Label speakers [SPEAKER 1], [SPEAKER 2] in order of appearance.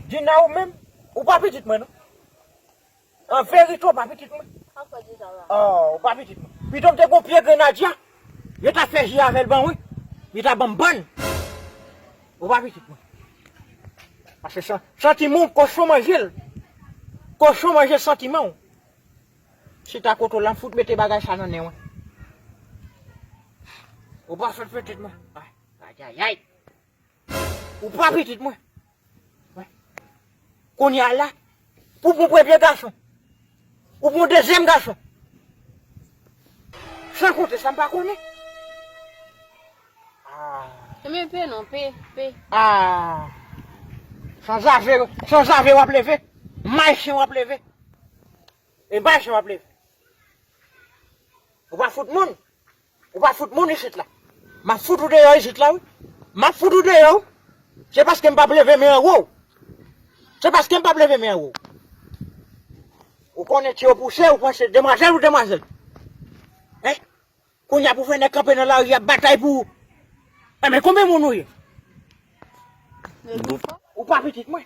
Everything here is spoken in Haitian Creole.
[SPEAKER 1] Dina ou menm, ou pa pitit mwen non. An verite ou pa pitit mwen. Oh, ou pa pitit mwen. Pito m te gon pye grenadya, yo ta fè ji avèl ban mwen, li ta banm bann. Ou pa pitit mwen. Pase san, santiman ou kochon manje l. Kochon manje santiman ou. Chita kote w la, m fout mete bagay sa nan nen w. Ou pa sot pitit mwen. Ayayay. Ou pa pitit mwen. Kounye a la, pou pou premye gason. Ou pou dezyem gason. San konte sa m pa konnen. Mwen pe non,
[SPEAKER 2] pe, pe.
[SPEAKER 1] San zave, san zave wap leve. May chen wap leve. E bay chen wap leve. Ou pa fout moun. Ou pa fout moun isit la. Map fout ou deyò isit la wi. Map fout ou deyò wi. Se paske m pap leve men anwo w. Se paske m pap leve men anwo w. Ou konnen ti opouse ou panse demwazèl ou demwazèl. Hein? Kounya pou fè nèg kanpe nan lari ap batay pou ou. Enben konbyen moun ou ye? Ou pa pitit mwen.